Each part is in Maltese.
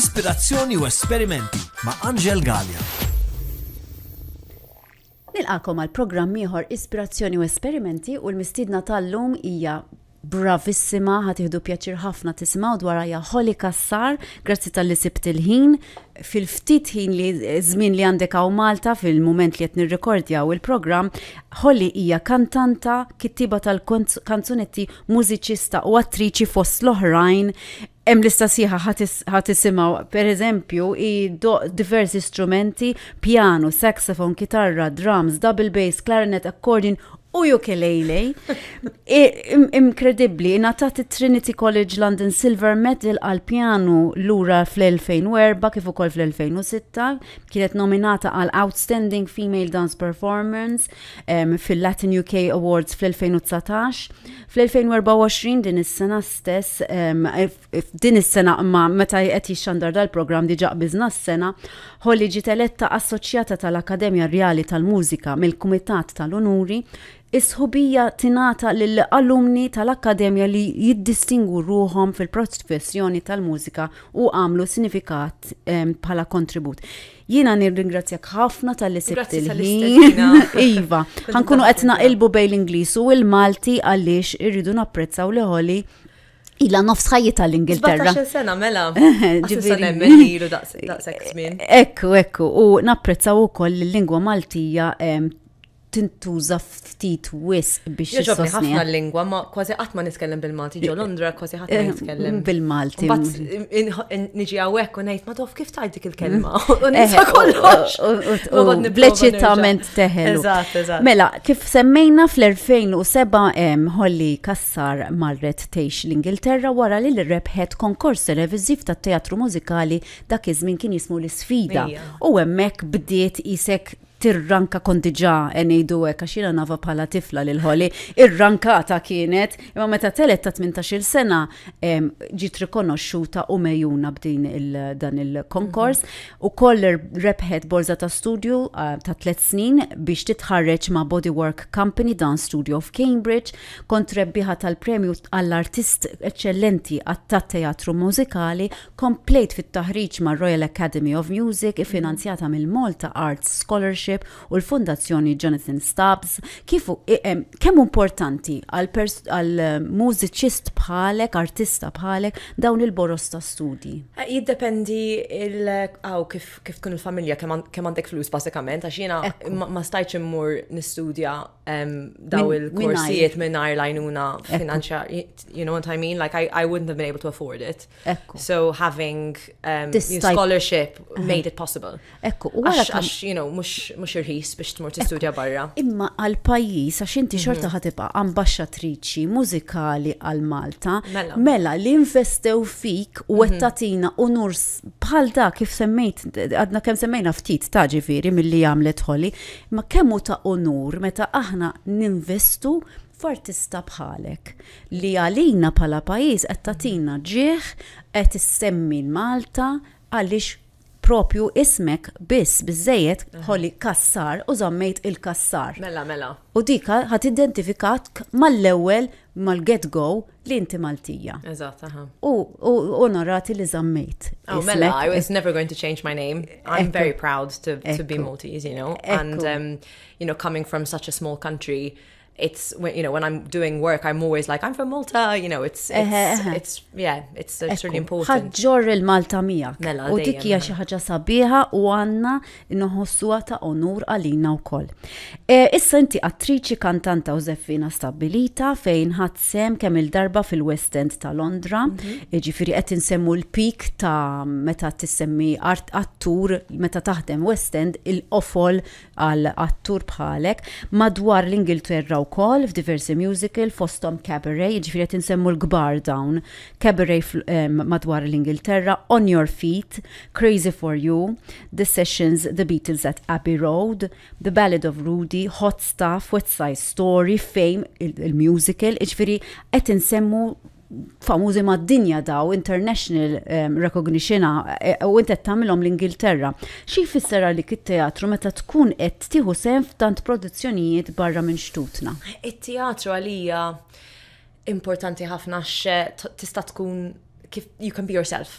Ispirazzjoni u esperimenti ma' Angel Gallia. Nilqakom għal programm ieħor Ispirazzjoni u Esperimenti u l-mistidna tal-lum hija bravissima, ħatiħdu pjaċir ħafna tisimaw dwar għajja Holly Kassar, grazzi tal-li sibt il-ħin, fil-ftit ħin li żmien li għandek għaw Malta fil-moment li qed nirrekordjaw il-programm, Holly hija kantanta, kittiba tal-kanzunetti, mużiċista u attriċi fost l-oħrajn, hemm lista sieħa ħadd isimgħu pereżempju hi diversi strumenti, pjanu, saxofon, kitarra, drums, double bass, clarinet, accordion u ukulele. Inkredibbli, ingħatat it-Trinity College London Silver Medal għal pjanu lura fl-2004 kif ukoll fl-2006, kienet nominata għal Outstanding Female Dance Performance fil-Latin UK Awards fl-2019. Fl-2024 din is-sena stess f'din is-sena imma meta qed jixxandar dal-programm diġà qbiżna s-sena, Holly ġiet eletta Assoċjata tal-Akkademja Rjali tal-Mużika mill-Kumitat tal-Unuri, is-sħubija tingħata lil alumni tal-Akkademja li jiddistingwu ruħhom fil-professjoni tal-mużika u għamlu sinifikat bħala kontribut. Jiena nirringrazzjak ħafna tal-li sibt il-ħin. Iva, ħankunu qed naqilbu bejn l-Ingliż u l-Malti għaliex irridu napprezzaw li ħoli ila nofs ħajjita l-Ingilterra. Għaxa sena mela, ġiviri menilu daqsek żmien. Ekku, ekku, u napprezzaw ukoll l-lingwa Maltija tintuża ftit wisq biex Jogħġobni ħafna l-lingwa, ma kważi qatt ma nitkellem bil-Malti ġo Londra, kważi ħadd ma eh, nitkellem bil-Malti. Niġi hawnhekk u ngħid ma tof kif tgħid dik il-kelma. U nisa eh, kollox. Bleċitament teħel. Mela, kif semmejna fl-2007 hemm Holly Kassar marret tgħix l-Ingilterra wara li rebħet konkors televiżiv tat-teatru mużikali dak iż-żmien kien jismu l-isfida. U hemmhekk bdiet isek tirranka kont diġà e ngħidu hekk għax jiena nava bħala tifla lil ħoli, irrankata kienet, imma meta telet ta' 18-il sena ġiet rikonoxxuta u mejjuna b'din dan il-konkors mhm. u koll rebħet borza ta' studju ta' tliet snin biex titħarreġ ma' Bodywork Company dan studio of Cambridge kont rebbiħa tal-premju għall-artist eċċellenti għat-teatru mużikali Komplejt fit-taħriġ mar-Royal Academy of Music iffinanzjata mill-Malta Arts Scholarship u l-Fundazzjoni Jonathan Stubbs. Kif kemm hu importanti għal mużiċist bħalek, artista bħalek, dawn il-boroż ta' studji? Jiddependi hawn kif tkun il-familja, kemm għandek flus bażikament, għax jiena ma stajtx immur nistudja daw il-korsijiet minnajr lajnuna finanzjar, you know what I mean? Like, I, I wouldn't have been able to afford it. Ekku. So having um, This type... scholarship uh-huh. made it possible. Ekku, u għax, għax, you know, mux, mux irħis biex tmur t-studja barra. Imma għal-pajis, għax inti mhm. xorta ħatibqa ambasċatriċi muzikali għal-Malta, mela. mela li investew fik u mhm. għettatina unur bħal da kif semmejt, għadna kem semmejna ftit ta' ġifiri mill-li għamlet ħoli, Imma kemm hu ta' unur meta aħna ninvestu f'artista bħalek li għalina bħala pajjiż qed tagħtina ġieh, qed issemmi l-Malta għaliex propju ismek biss biżżejjed ħoli Cassar u żammejt il-Cassar. Mela, mela. U dik ħadd identifikat mal-ewwel mal-get go li inti Maltija. Eżatt, aha. U onorati li zammejt. Oh, mela, I was never going to change my name. I'm very proud to, to be Maltese, you know. And, um, you know, coming from such a small country, it's when you know when I'm doing work I'm always like I'm from Malta you know it's it's, it's yeah it's, it's really important ħaġġor il-Malta miegħek mela, u dik hija xi ħaġa sabiħa u għandna Inħossuha ta' onur għalina wkoll. Issa inti attriċi, kantanta u żeffina stabbilita fejn ħadt sehem kemm-il darba fil-West End ta' Londra, jiġifieri qed insemmu l-peak ta' meta tissemmi art attur meta taħdem West End, il-qofol għal attur bħalek, madwar l-Ingilterra wkoll f'diversi musical fosthom Cabaret, jiġifieri qed insemmu l-kbar dawn, Cabaret madwar l-Ingilterra, On Your Feet, Crazy For You, The Sessions, The Beatles at Abbey Road, The Ballad of Rudy, Hot Stuff, West Side Story, Fame, il-musical, iġifieri qed insemmu famużi mad-dinja daw, international um, recognition eh, u intet tagħmilhom l-Ingilterra. Xi jfisser għalik it-teatru meta tkun qed tieħu sehem f'tant produzzjonijiet barra minn xtutna? It-teatru għalija importanti ħafna x tista' tkun kif you can be yourself.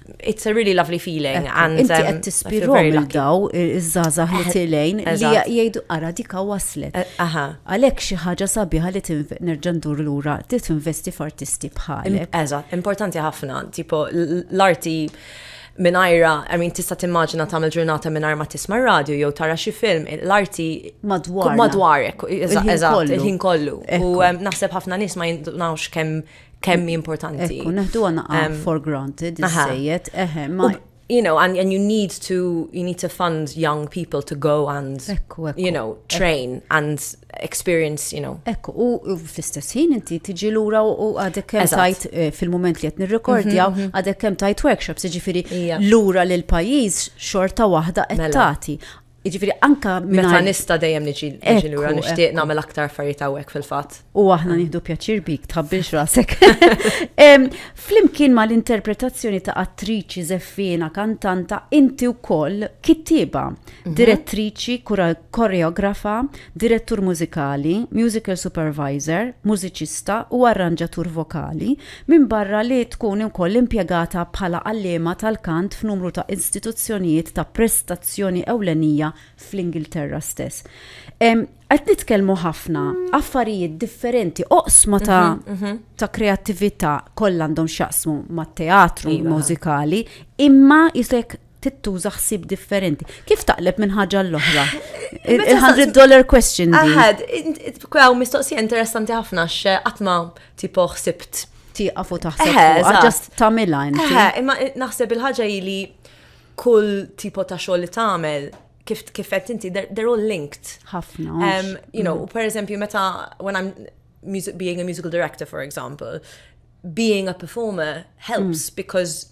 it's a really lovely feeling. And, Inti um, qed tispirom daw iż-żgħażagħ li eh, tilejn li jgħidu ara dika waslet. Eh, Għalhekk xi ħaġa sabiħa li nerġa' ndur lura li tinvesti f'artisti bħalek. Eżatt, importanti ħafna, tipo l-arti minajra, I mean, tista timmaġina tam il-ġurnata minajra ma tisma radio jew tara xi film, l-arti madwar. Madwarek, eżatt, il-ħin kollu. U naħseb ħafna nis ma jindunawx kemm kemm importanti. Ekku, neħdu għana um, for granted, iż-żejjed, eħe, ma you know, and, and you need to you need to fund young people to go and ekku, ekku, you know train ekku. and experience, you know. Ekku, u fl-istess ħin inti tiġi lura u għadek kemm tajt eh, fil-moment li qed nirrekordjaw, mhm, mhm. għadek kemm tajt workshops, jiġifieri lura lil pajjiż xorta waħda qed mela. tagħti. Jiġifieri anke mingħajr. Meta nista' dejjem niġi niġi lura nixtieq nagħmel aktar affarijiet hawnhekk fil-fatt. U aħna nieħdu pjaċir bik tħabbilx rasek. Flimkien mal-interpretazzjoni ta' attriċi żeffiena kantanta inti wkoll kittieba, mhm. direttriċi, koreografa, direttur mużikali, musical supervisor, mużiċista u arranġatur vokali, minbarra li tkun ukoll impjegata bħala għalliema tal-kant f'numru ta' istituzzjonijiet ta' prestazzjoni ewlenija fl-Ingilterra stess. Qed nitkellmu ħafna affarijiet differenti, oqsma ta' mhm, mhm. kreattività kollha għandhom x'jaqsmu mat-teatru iva. mużikali, imma jisek tittuża ħsieb differenti. Kif taqleb minn ħaġa l-oħra? Il-100 dollar question. Aħad, kwaw mistoqsija interessanti ħafna x'qatma tipo ħsibt. Tieqaf u taħseb fuq, ġast tagħmilha inti. Imma naħseb il-ħaġa li kull tipo ta' xogħol li tagħmel kif kif qed inti they're all linked. Ħafna. You know, mm. per eżempju meta when I'm music, being a musical director for example, being a performer helps mm. because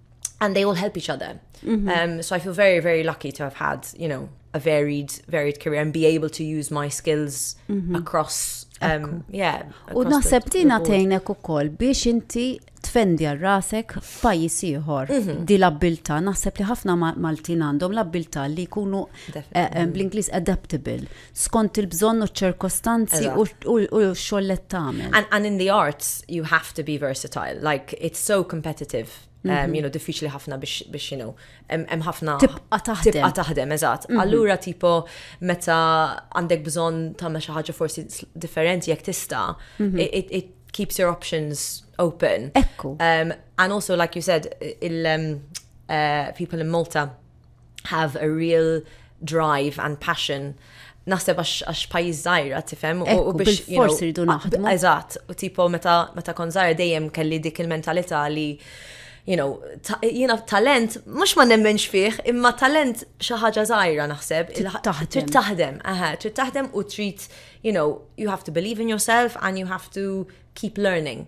and they all help each other. Mm-hmm. Um, so I feel very, very lucky to have had, you know, a varied, varied career and be able to use my skills mm-hmm. across. Um, yeah, u naħseb tina tejnek u koll biex inti tfendi għal rasek f'pajjiż ieħor mhm. di l-abbiltà naħseb li ħafna Maltin għandhom l-abbiltà li jkunu eh, eh, bl-Ingliż adaptable. skont il-bżonn u ċ-ċirkostanzi u x-xogħol li tagħmel. And, and in the arts you have to be versatile. Like it's so competitive. Um, mhm. you know, diffiċli ħafna biex, biex you know, hemm ħafna. Tibqa taħdem. Tibqa taħdem, eżatt. Mhm. Allura tipo meta għandek bżonn tagħmel xi ħaġa forsi differenti jekk tista', mhm. it, it keeps your options open. Ekku. Um, and also, like you said, il, um, uh, people in Malta have a real drive and passion naħseb għax pajjiż żgħira tifhem u biex forsi rridu naħdmu. Eżatt, u tipo meta meta kon żgħira dejjem kelli dik il-mentalità li you know, jiena talent, mux ma nemmenx fih, imma talent xaħġa zaħira naħseb. Trid taħdem, aha, trid taħdem u trid, you know, you have to believe in yourself and you have to keep learning.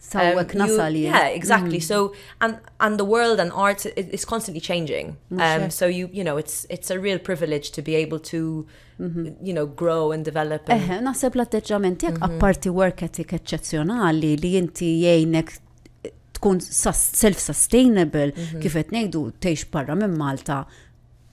Sawwek um, nasal you, Yeah, exactly. Mm. So and and the world and art is constantly changing. Um, so you you know it's it's a real privilege to be able to mm -hmm. you know grow and develop. And... Eh, naħseb l-atteġġament tiegħek mm -hmm. apparti work ethic eċċezzjonali li inti jgħinek tkun self-sustainable mm -hmm. kif qed ngħidu tgħix barra minn Malta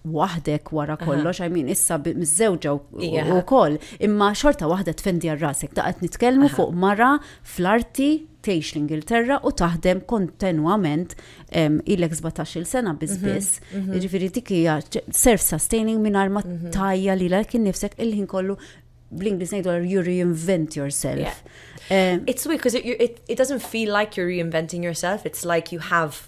waħdek wara kollox, I mean, issa mizzewġa u koll, imma xorta waħda tfendi għal rasek, ta' għet nitkelmu fuq mara fl-arti teħx l-Ingilterra u taħdem kontinuament il-ek 17 sena bizbis, mhm, mhm. ġifiri dikija self-sustaining minn arma mhm. tajja li l-ek nifsek il-ħin kollu bl-Inglis nejdu you reinvent yourself. It's weird because it, it, it doesn't feel like you're reinventing yourself, it's like you have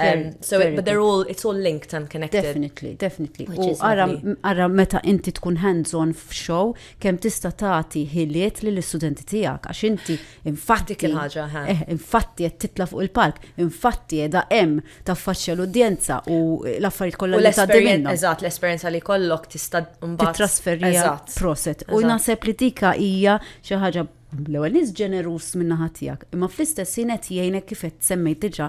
Um, so, it, but they're all, it's all linked and connected. Definitely, definitely. U għara meta inti tkun hands-on f'show, kem tista tati ħiliet li l-studenti tijak, għax inti infatti ħaġa eh, infatti għed titla fuq il-palk, infatti għed em ta' faċċa l-udjenza u l-affarijiet kollha li taddi minna. Eżatt, l-esperienza li kollok tista' mbagħad. Trasferija proset. U naħseb li tika hija xi ħaġa l-ewwel nies ġenerus minna ħatijak, imma fl-istess jien qed jgħinek kif qed semmejt diġà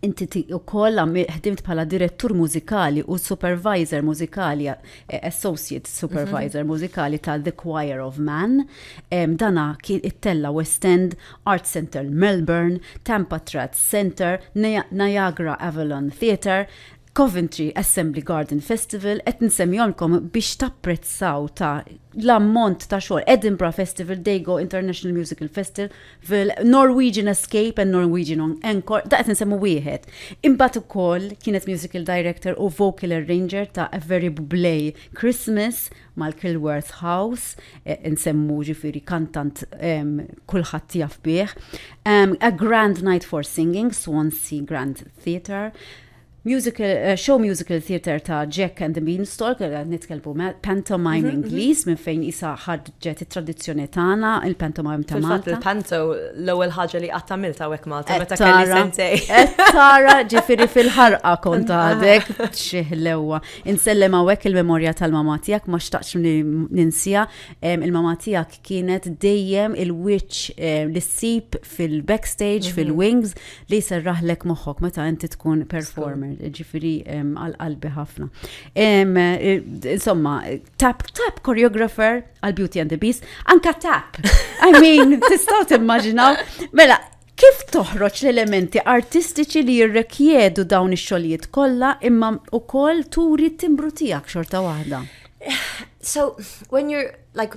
Inti wkoll ħdimt bħala direttur mużikali u supervisor mużikali, eh, associate mhm. supervisor mużikali ta' The Choir of Man. Dana kien it-Tella West End, Art Center Melbourne, Tampa Trad Center, Niagara Avalon Theatre, Coventry Assembly Garden Festival qed nsemmihomlkom biex tapprezzaw ta' l-ammont ta' xogħol Edinburgh Festival, Dago International Musical Festival, Norwegian Escape and Norwegian Encore, da qed nsemmu wieħed. Imbagħad ukoll kienet musical director u vocal arranger ta' A Very Bublé Christmas mal-Kilworth House, e, nsemmu ġifieri kantant kulħadd jaf bih. A Grand Night for Singing, Swansea Grand Theatre, musical, uh, show musical theatre ta' Jack and the Beanstalk, għal eh, nitkelbu pantomime mhm, mhm. Ingliż minn fejn isa ħadġet it-tradizzjoni tagħna, il-pantomime ta' Malta. Il-panto l-ewwel ħaġa li qatt tagħmel ta' hekk Malta meta kelli sentej. Tara ġifieri fil-ħarqa kont għadek xih l-ewwa. Insellem hawnhekk il-memorja tal-mama tiegħek ma xtaqx ninsija. Il-mama tiegħek kienet dejjem il-wiċċ eh, li ssib fil-backstage, fil-wings, li jserraħlek moħħok meta inti tkun performer, ġifiri għal-qalbi ħafna. Insomma, tap, tap choreographer għal Beauty and the Beast, anka tap. I mean, tistaw timmaġinaw, mela, Kif toħroġ l-elementi artistiċi li jirrekjedu dawn ix-xogħlijiet kollha imma wkoll turi t-timbru tiegħek xorta waħda? So, when you're like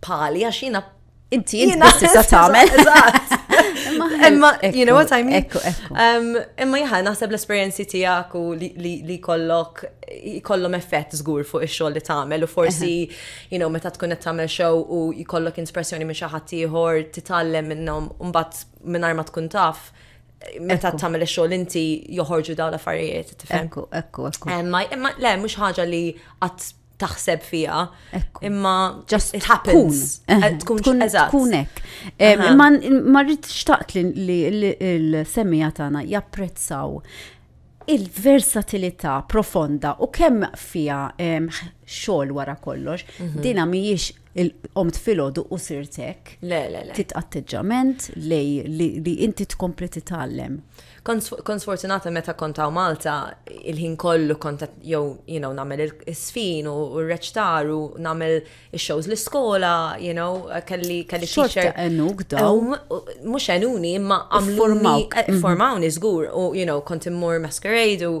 pali għax jiena Inti jien tista' tagħmel. Imma you know what I mean? Um, imma jaħa naħseb l-esperjenzi tiegħek u li kollok jkollhom effett żgur fuq ix-xogħol li tagħmel u forsi you know meta tkun qed tagħmel show u jkollok inspirazzjoni minn xi ħadd ieħor titgħallem minnhom u mbagħad mingħajr ma tkun taf meta tagħmel ix-xogħol inti joħorġu dawn l-affarijiet tifhem. Ekku, ekku, ekku. Imma le mhux ħaġa li qatt taħseb fija. Imma just it happens. Eh, eh, tkun tkun hekk. Eh, imma ma rrid xtaqt li l-semija tagħna japprezzaw il-versatilità profonda u kemm fija xogħol wara kollox, mhm. dina mhijiex il-qomt filgħodu u sirt hekk. Le, le, le. Tit atteġġament lej li inti tkompli titgħallem. Kont sfortunata meta kont hawn Malta il-ħin kollu kont jew you know nagħmel is-sfin u r-reċtar u nagħmel ix-shows l-iskola, you know, kelli kelli teacher. Enuk daw. Mhux enuni imma għamlu formawni żgur u you know kont immur masquerade u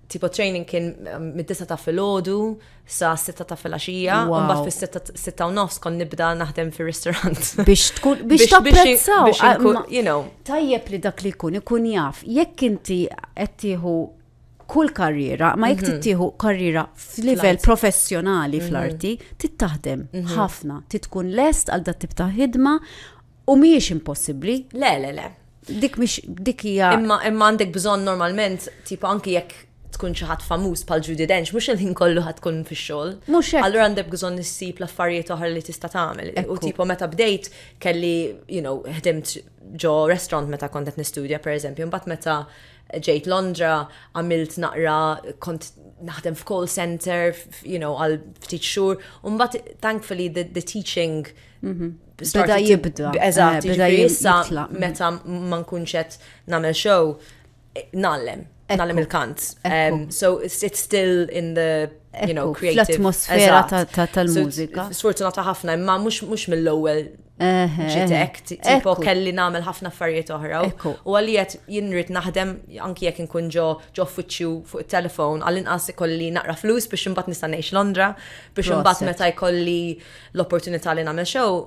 tipo training kien um, mid-disa ta' filgħodu sa' sitta ta' filgħaxija, u mbagħad fis-sitta u nofs kon nibda naħdem fir-ristorant. Biex tkun biex tapprezzaw, ah, you know. Tajjeb li dak li jkun ikun jaf, jekk inti qed tieħu kull karriera, ma jekk mhm. tittieħu karriera f'livell professjonali mhm. fl-arti, tittaħdem mhm. ħafna, titkun lest għal dat tip ta' ħidma U mhijiex impossibbli? Le, le, le. Dik mhix dik hija. Imma imma għandek bżonn normalment tip anki jekk tkun xi ħadd famuż bħal Judy Dench, mhux il-ħin kollu ħad tkun fix-xogħol. Mhux hekk. Allura għandek bżonn issib l-affarijiet oħra li tista' tagħmel. U tipo meta bdejt kelli, you know, ħdimt ġo restaurant meta kont qed nistudja pereżempju, mbagħad meta ġejt Londra, għamilt naqra, kont naħdem f'call center, you know, għal ftit xhur, u mbagħad thankfully the, the teaching Mhm. Beda jibda. Eżatt, eh, beda jissa meta ma nkunx qed nagħmel show eh, nallem, nallem il-kant. Um, so it's still in the you know, creative. L-atmosfera tal-mużika. Sfortunata ħafna, imma mhux mill-ewwel ġitek, tipo kelli namel ħafna affarijiet oħra. U għalijet jinrit naħdem anki jek nkun ġo ġo uffiċċju fuq il-telefon, għallin inqas ikolli naqra flus biex imbagħad nista' ngħix Londra, biex imbagħad meta jkolli L-opportunità li nagħmel xew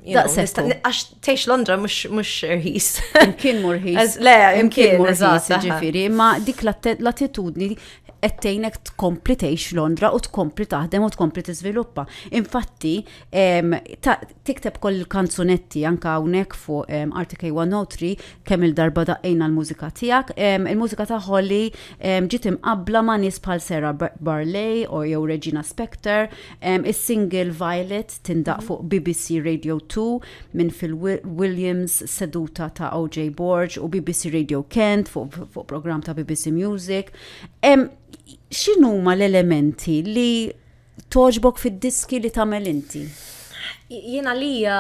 Daqsek. Għax teħx Londra mux rħis. Imkien mur rħis. Le, imkien mur rħis, ġifiri. Ma dik l-attitudni ettejnek tkompli teħx Londra u tkompli taħdem u tkompli tiżviluppa. Infatti, tikteb koll kanzunetti anka hawnhekk fuq RTK 103 kemm il-darba daqqejna l-mużika tiegħek. Il-mużika ta' Holly ġiet imqabbla ma' nies bħal Sarah Barley u jew Regina Spector Is-single Violet tindaqq fuq bbc Radio Two minn Phil Williams, seduta ta' OJ Borg u bbc Radio Kent fuq fu programm ta' bbc Music. X'inhuma l-elementi li toġbok fid-diski li tagħmel inti? Jiena lija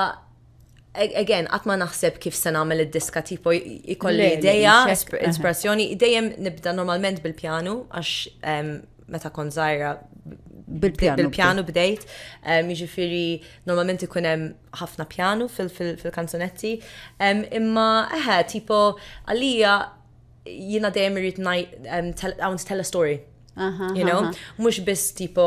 again, għat ma naħseb kif se nagħmel id-diska tipo jkolli ideja, ispirazzjoni, dejjem nibda normalment bil-pjanu għax ehm, meta kon zaħira bil-pjanu bdejt, ehm, jiġifieri normalment ikun hemm ħafna pjanu fil-kanzunetti, ehm, imma eħe tipo għalija jiena dejjem irrid hawn tell a story. You know, mhux biss tipo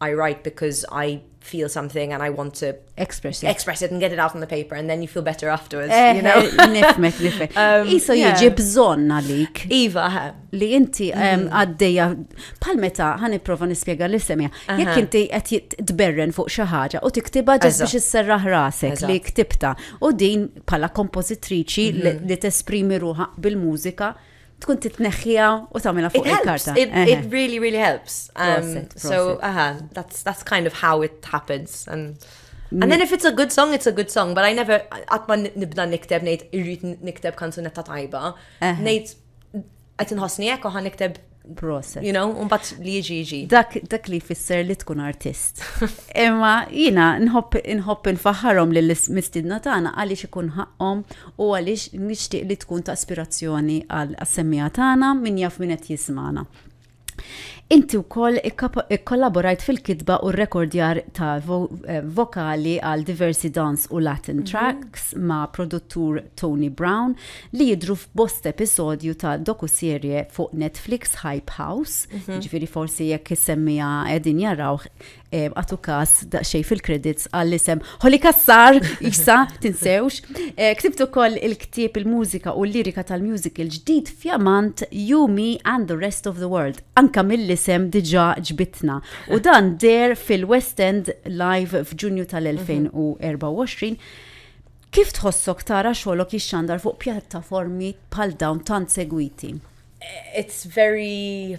I write because I feel something and I want to express it, express it and get it out on the paper and then you feel better afterwards, eh, you know? Eh, nifmek, nifmek. Um, Iso jieġi bżon għalik. Iva, ha. Li inti mm-hmm. għaddeja, pal meta ħani profa nispiega li semja, jek inti għet tberren fuq xaħġa u tiktiba ġas biex s-serraħ rasek li ktibta u din pala kompozitriċi mm-hmm. li t-esprimi ruħa bil-mużika. bil mużika tkun titneħħija u tagħmilha fuq il-karta. It, it really, really helps. Um, prosit, prosit. So, aha, uh -huh, that's, that's kind of how it happens. And, And then if it's a good song, it's a good song, but I never, għatma nibda nikteb, nejt irrit nikteb kanzunetta tajba, nejt għet nħosni ekku għan nikteb process. You know, un bat li jiġi jiġi. Dak, dak li fisser li tkun artist. Imma jina nħobb nħobb nfaħħarhom lill-mistidna tagħna għaliex ikun ħaqqhom u għaliex nixtieq li tkun ta' aspirazzjoni għal semmija tagħna min jaf min qed jismana. Inti wkoll ikkollaborajt fil-kitba u rekordjar ta' eh, vokali għal diversi dans u Latin mhm. tracks ma' produttur Tony Brown li jidru f'bost episodju ta' dokuserje fuq Netflix Hype House, mhm. ġifiri forsi jekk semmija edin jarawh għatu kas daqxej fil-kredits għall-isem Holly Kassar, jisa, tinsewx. Eh, Ktibtu koll il-ktib il-mużika u l-lirika tal-mużik il-ġdid fjamant You, Me and the Rest of the World. Anka mill-isem diġa ġbitna. U dan der fil-West End live f'Ġunju tal-2024. Kif tħossok tara xolok jixxandar fuq pjattaformi bħal dawn tant segwiti? It's very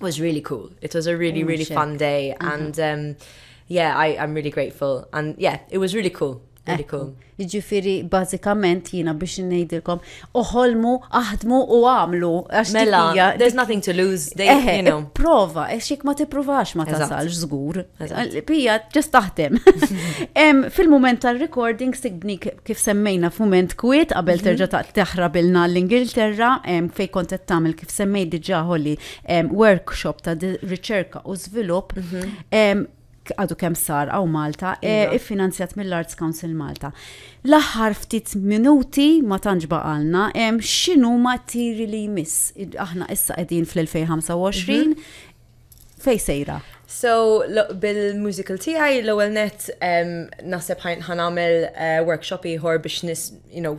was really cool. It was a really, oh, really shit. fun day. Uh-huh. And um, yeah, I, I'm really grateful. And yeah, it was really cool. Really cool. Ġifiri, bazzikament jina biex nejdilkom, uħolmu, aħdmu u għamlu. Mela, there's nothing to lose, they, you know. Prova, eċik ma t-provax ma tasalx zgur. Pija, ġest taħdem. Fil-moment tal-recording, sigbni kif semmejna f'moment kwiet, qabel mhm. terġa taħrabilna l-Ingilterra, fej kontet tamil kif semmejt diġà ħolli workshop ta' riċerka u żvilupp mhm. għadu kemm sar għaw Malta, e, iva. iffinanzjat mill-Arts Council Malta. L-aħħar ftit minuti ma tantx baqalna hemm x'inhuma tiri li jmiss. Aħna issa qegħdin fl-2025 mhm. fej sejra. So, bil-musical tiegħi l-ewwel net naħseb ħanamel eh, workshop ieħor biex nis, you know,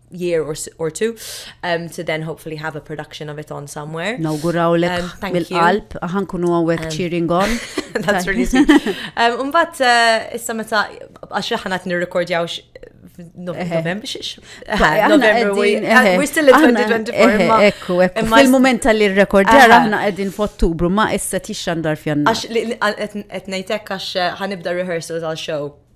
year or, or two um, to then hopefully have a production of it on somewhere. No, guraw lek um, mill-qalb, ħankunu għawek um, cheering on. That's really sweet. Um, Umbat, uh, issa meta, għax ħanat nirrekordjaw November, we're still in 2024. Ekku, ekku. Fil-moment tal-li rekordjar aħna għedin f'Ottubru, ma issa tixxandar fjanna. Għax, għetnejtek għax uh, ħanibda rehearsals għal show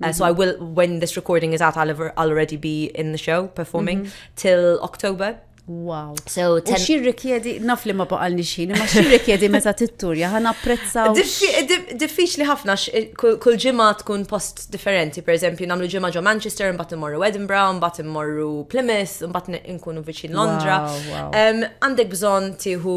Uh, so I will, when this recording is out, I'll, ever, I'll already be in the show performing mm-hmm. till October. Wow. So, ten... xi rikjedi, naf li ma baqalni xin, ma xi rikjedi meta titturja, ħan apprezza. Diffiċ li ħafna, eh, kull ġimma tkun post differenti, per eżempju, namlu ġimma ġo Manchester, mbatt immorru Edinburgh, mbatt immorru Plymouth, mbatt nkunu viċin Londra. Għandek bżon tiħu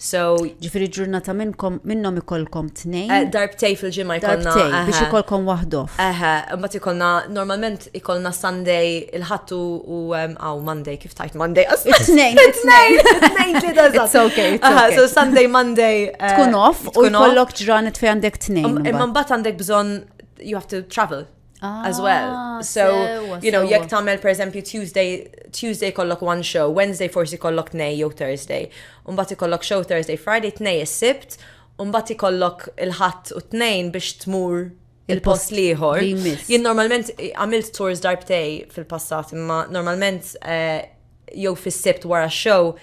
So, ġifiri ġurnata minnkom minnom ikolkom tnejn. Eh, darbtej fil-ġimma ikolna. Darbtej, biex ikolkom wahdof. Eħe, mbat ikolna, normalment ikolna Sunday, il-ħattu u għaw Monday, kif tajt Monday? Tnejn, tnejn, tnejn li da It's okay, it's okay. So Sunday, Monday. Eh, tkun off, u jkollok ġranet fej għandek tnejn. Imma mbat għandek bżon, you have to travel. as well. Ah, so, sewa, you know, sewa. jekk tagħmel pereżempju Tuesday, Tuesday kollok one show, Wednesday forsi kollok tnej jew Thursday, u mbagħad ikollok show Thursday, Friday tnej is-Sibt, u mbagħad ikollok il-Ħadd u tnejn biex tmur il-post liħor. li jmiss. Jien normalment eh, għamilt tours darbtej fil-passat, imma normalment eh, jew fis-sibt wara show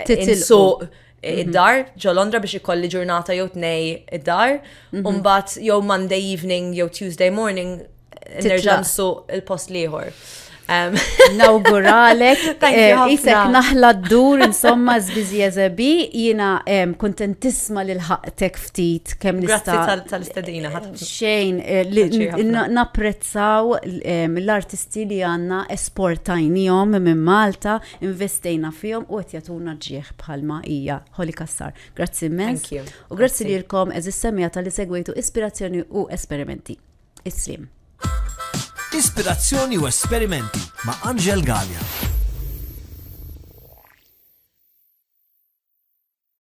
Titsuq mhm. id-dar ġo Londra biex ikolli ġurnata jew tnej id-dar, mhm. u mbagħad jew Monday evening jew Tuesday morning nerġa' nsuq il-post liħor. Nawguralek, eh, isek naħla d-dur, insomma, zbizi eżebi, jina kontentisma li l-ħaqtek ftit kem nista. Grazzi tal-istadina, eh, Xejn, eh, napprezzaw l-artisti li għanna esportajnijom minn Malta, Investejna fihom u qed jagħtuna ġieħ bħalma hija Holly Cassar. Grazzi immens. U grazzi lilkom eżis semija tal-li segwejtu ispirazzjoni u esperimenti. Islim. Ispirazzjoni u esperimenti ma' Angel Gallia.